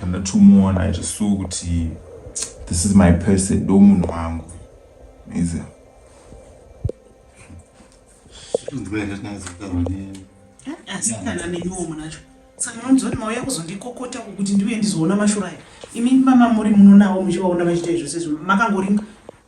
pandatomuona irisu kuti this is my person ndo munhu wangu iza asikana neniwo munacho saka vanonzoti mauya kuzondikokota kuti ndiuye ndizoona mashura aya imi mama muri munonawo muchivaona vachiita izvo sezvo makangoringa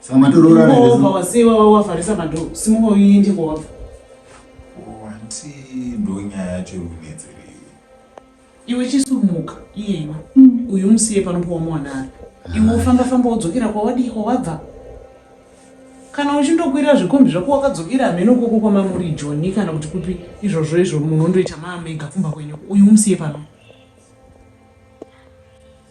Saka matoroora nini? Ngova wasewa wawavharisa madhoo. Simuka uende kwawabva. Wanti oh, ndonyaya yacho inonetsera iwe. Iwe chisumuka iyena. Mm. Uyu musiye panopuwa mwana ari. Iwe ufamba famba wodzokera kwawadii kwawabva. Kana uchindokwira zvikombi zvako wakadzokera hameno koko kwamamuri Joni kana kuti kupi izvozvo izvo munondoita maamega kumba kwenyu. Uyu musiye pano.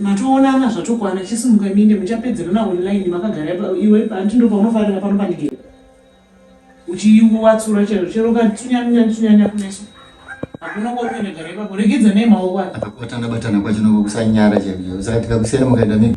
matoonana zvatokwana chisimuka minde muchapedzerana online makagara iwe hanti ndo paunofarira pano pandigere uchiwatsura chero chero ukatsunyanyanyanya kumeso hakuna kwakuenda gara ipapo regedza nei maoko acho akakubatana batana kwacho nokukusanyara chaiyo saka tikakusiyana mukaenda mega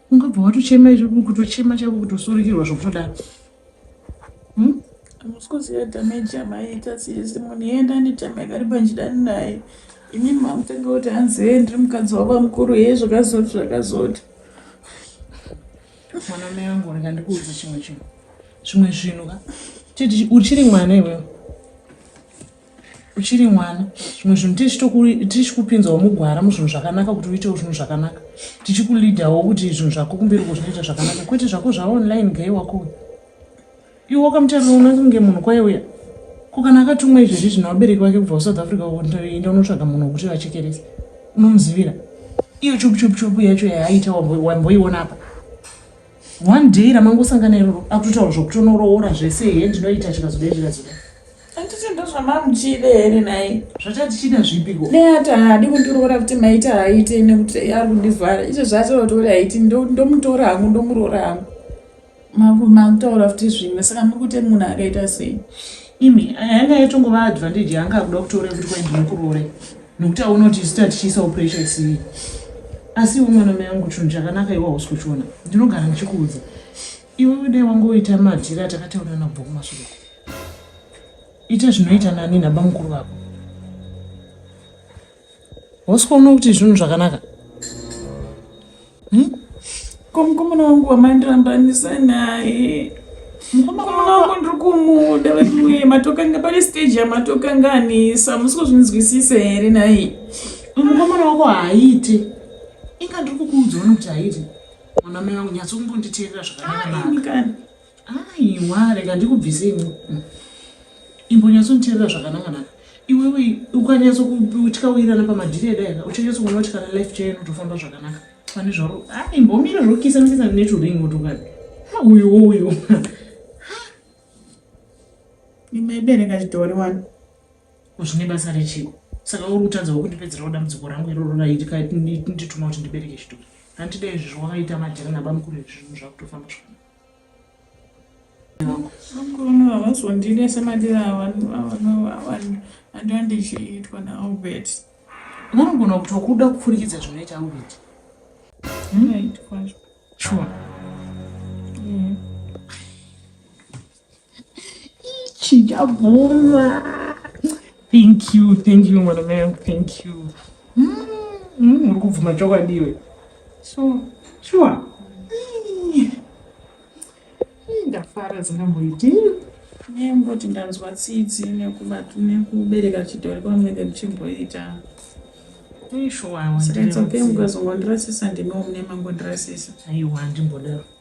ungabva watochema izvo kutochema chako kutosurikirwa zvokutodaro hmm? musikuziva dhameji yamaiita sisi munhu iyenda anitame akariba ndidani naye ini mamutanga kuti hanzi hee ndiri mukadzi wava mukuru hee zvakazoti zvakazoti mwana mai vangu rega ndikuudza chimwe chinhu zvimwe zvinhu ka titi uchiri mwana iwewe uchiri mwana zvimwe zvinhu tichikupinzawo mugwara muzvinhu zvakanaka kuti uitewo zvinhu zvakanaka tichikuleadawo kuti zvinhu zvako kumberi ko zvinoita zvakanaka kwete zvako zvaonline gai wako iwe wakamutarira unenge kunge munhu kwaye uya ko kana akatumwa izvezvi zvino vabereki vake kubva kusouth africa enda unotsvaga munhu wekuti vachekerese unomuzivira iyo chupuchupuchupu yacho yaaita wamboiona apa one day ramangosangana iroro akutotaura zvokutonoroora zvese hee ndinoita chikazoda chikazoda Handiti ndozvamamuchide here nhai? Zvatatichida zvipiko? Neati haadi kundiroora kuti maiti haaite nekuti ari kundivhara. Izvo zvaatinotaura haiti ndomutora hangu ndomuroora hangu. Makutaura futi zvimwe saka muri kuti munhu akaita sei? Imi anga yatongova advantage yanga akuda kutora kuti kwai ndinokuroore nekuti aona kuti isu tatichiisawo pressure isii. Asi iwe mwana mai angu chunhu chakanaka iwe hausi kuchiona. Ndinogara ndichikuudza. Iwewe dai wange woita madhiri atakataurana kubva kumashure uko. Ita zvinoita nani nabamukuru vako. Hausi kuona kuti zvinhu zvakanaka? Hmm? Ko mukomana wangu wamandirambanisa naye. Mukomana wangu ndiri kumuda veduwe matokanga pane stage yamatokanga anisa musi kuzvinzwisisa here naye. Mukomana wako haaite. Inga ndiri kukuudza kuti haaite. Mwana mai vangu nyatso kumbonditeerera zvakanaka. Aiwa rega ndikubvise imwe. Mm. Imbonyatso nditeerera zvakanaka naka. Iwewe ukanyatso kutya uirana pamadhiri edaika uchanyatso kuona kuti kana life chayo inotofamba zvakanaka. Pane zvaro. Ah imbomira zvokisa misisa neturing motokari. Ha uyu uyu. Imaibereka chitori wani. Ko zvine basa rechiko? Saka uri kutadzawo kundipedzerawo dambudziko rangu iroro raitika ndituma kuti ndibereke chitori. Handida izvi zvawakaita majera nabamukuru izvi zvinhu zvakutofamba zvakanaka. Bamukuru no havazondide semadiro avandiwa ndichiitwa naAlbert. Vanogona kuti wakuda kupfurikidza zvinoita Albert. Hmm? Sure. Yeah. Chijabuma. Thank you, thank you, mwana man, thank you. Mm, mm, uri kubvuma chokwadi iwe. So, sure. Ndafara dzingamboiti. Nemboti ndanzwa tsitsi nekubatu nekubereka chidhori kwamwe ndichimboita. Saka it's okay mukazongondirasisa ndimiwo mune mangondirasisa. Aiwa, ndimbodaro.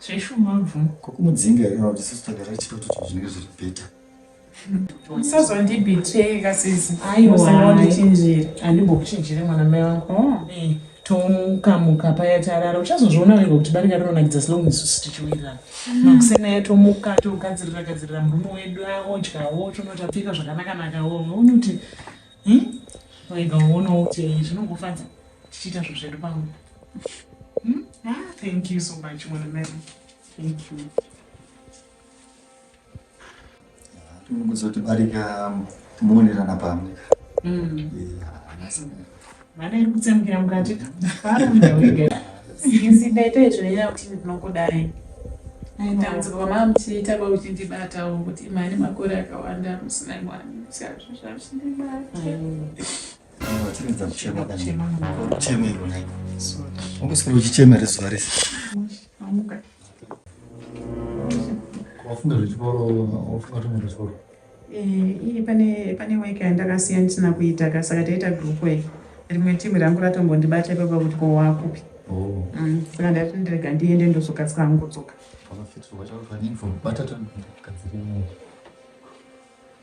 zveshuma bvu kokumudzinga here kana kuti sisi tagara tichitoto kuti zvinenge zviri bheta usazondibhitreka sisi aiwaandichinjira andimbokuchinjire mwana mai wangu oh. eh, tomukamuka paya tarara uchazozviona wega kuti barika rinonakidza slong isusu tichiwirirana hmm. makusena yatomuka togadzirira gadzirira murume wedu aodyawo tonotapfeka zvakanakanakawo uone kuti hmm? wega uonawo kuti zvinongofadza tichiita zvo zvedu pamwe Hmm? Ah, thank you so much, Mwana Mary. Thank you. Kuzotibarika muonerana pamwe. Mm. Vana iri kutsemukira mukati. Sisi ndaita izvo nenyaya kuti ndinokudai. Ndaitambudzika kwamama muchiita kwakuchindibatawo kuti mari makore akawanda musina mwana. Saka zvazvindibata. uchichemera zuva rese wafunga zvechikoro wafunga kuti munhu zvechikoro iyi pane pane weka yandakasiya ndisina kuita ka saka taita group work rimwe timu rangu ratombondibata ipapa kuti ko wakupi oh. mm, saka ndati ndirega ndiende ndozokasika hangu kudzoka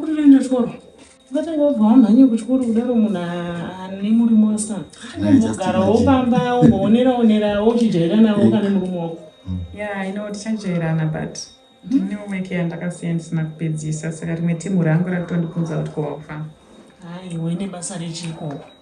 kutoenda chikoro vatanga vabva wamhanye kuchikoro kudaro munhu ane murimo wasikana anombogarawo pamba umboonera onerawo uchijairanawo kana murume wako mm. ya ino tichajairana but ndinewo mm-hmm. weke yandakasiya ndisina kupedzisa saka rimwe timu rangu rakutondibvunza kuti kowakufa haiwe nebasa rechikoro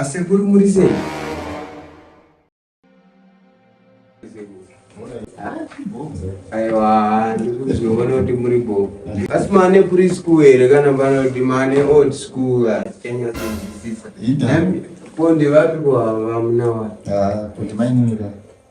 Asekuru muri sei? Aiwa, ndikuzoona kuti muri bo. Asi mane kuri school here kana pano kuti mane old school Kenya kunzwisisa. Ponde vapi kwa vamuna wa? Ah, kuti mainini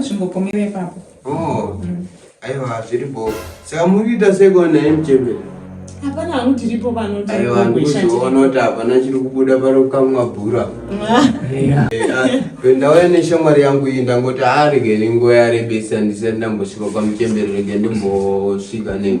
Zvingopomera ipapo. Oh. Mm. Aiwa zviri bo. Saka muri kuita seko na MJB. Hapana hangu tiripo pano tiri kuisha. Aiwa ndikuzoona kuti hapana chiri kubuda pano kamwa bhura. Aiwa. Eh, ah, Ndauya neshamwari yangu iyi ndangoti arege ah, nenguva yarebesa ndisati ndambosvika kwamuchembere rege ndimbosvika nei.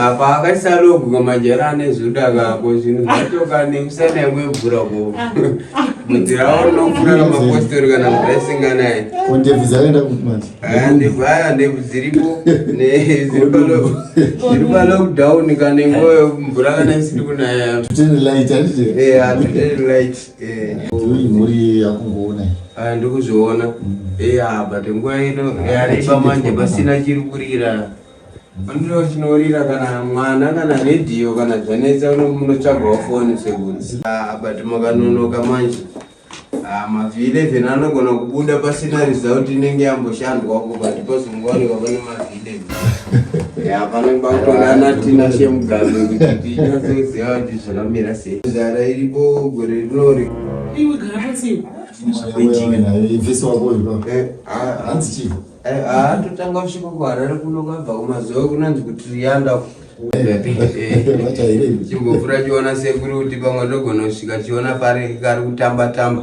apa akasaloguka majera ane zvoda kako zvinhu zvatoka nemusana yangu yobvura ko mudzirawo unofura kamapostori kana mvura isinganaye ndevaya ndebvu dziripo zviri palockdown kanengoyo mvura kana isiri kunaya mhuri yakungoona ah, ndikuzviona mm. eya but nguva ino yareba manje pasina chiri kurira andiro chinorira kana mwana kana redhiyo kana zvanetsa munotsvagawo foni sekunzi ah, but makanonoka manje ah, mavhi 11 anogona kubuda pasina result inenge yamboshandwako but pazongowanika pane mavhi totanga kusvika kuharare kuno kwabva kumazuva kunonzi kuti riyanda chimbovhura chiona sekuri kuti pamwe ndogona kusvika chiona pari kari kutamba tamba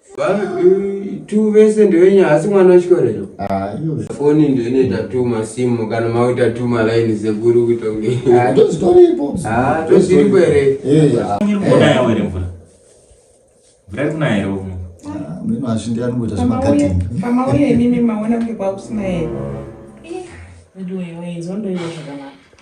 tu vese ndewenyu hasi mwana wechikorero foni ndo inoita tu masimu kana makuita tu malaini sekuru kuita kungetozviripo ah, ah, here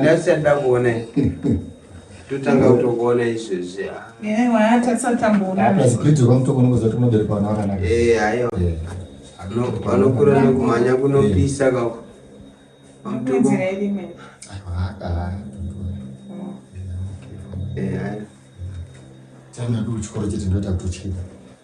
ndasiyada kuona totanga kutokuona izvezvi vanokura nekumhanya kunopisa kako tanga kuri chikoro chete ndoita kutochida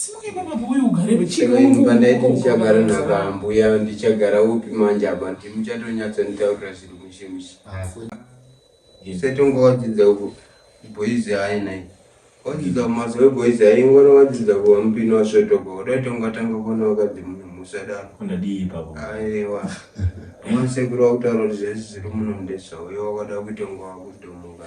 Simuka ipapo bhuku uyu ugarepo. Chii imba ndaiti ndichagara nakambuya ndichagara upi manje apa ndi muchatonyatsa nditaurira zviri mushe mushe. Setonga wadzidza uko boys aina iyi. Wadzidza mazowe boys ayi ngona wadzidza kuva mupini wasvotoka udatonga tanga kuona wakadzi munhu musadaro. Kundadii ipapo. Aiwa. Masekuru wakutaura kuti zvese zviri muno ndezvauyo wakada kutonga wakudhomoka.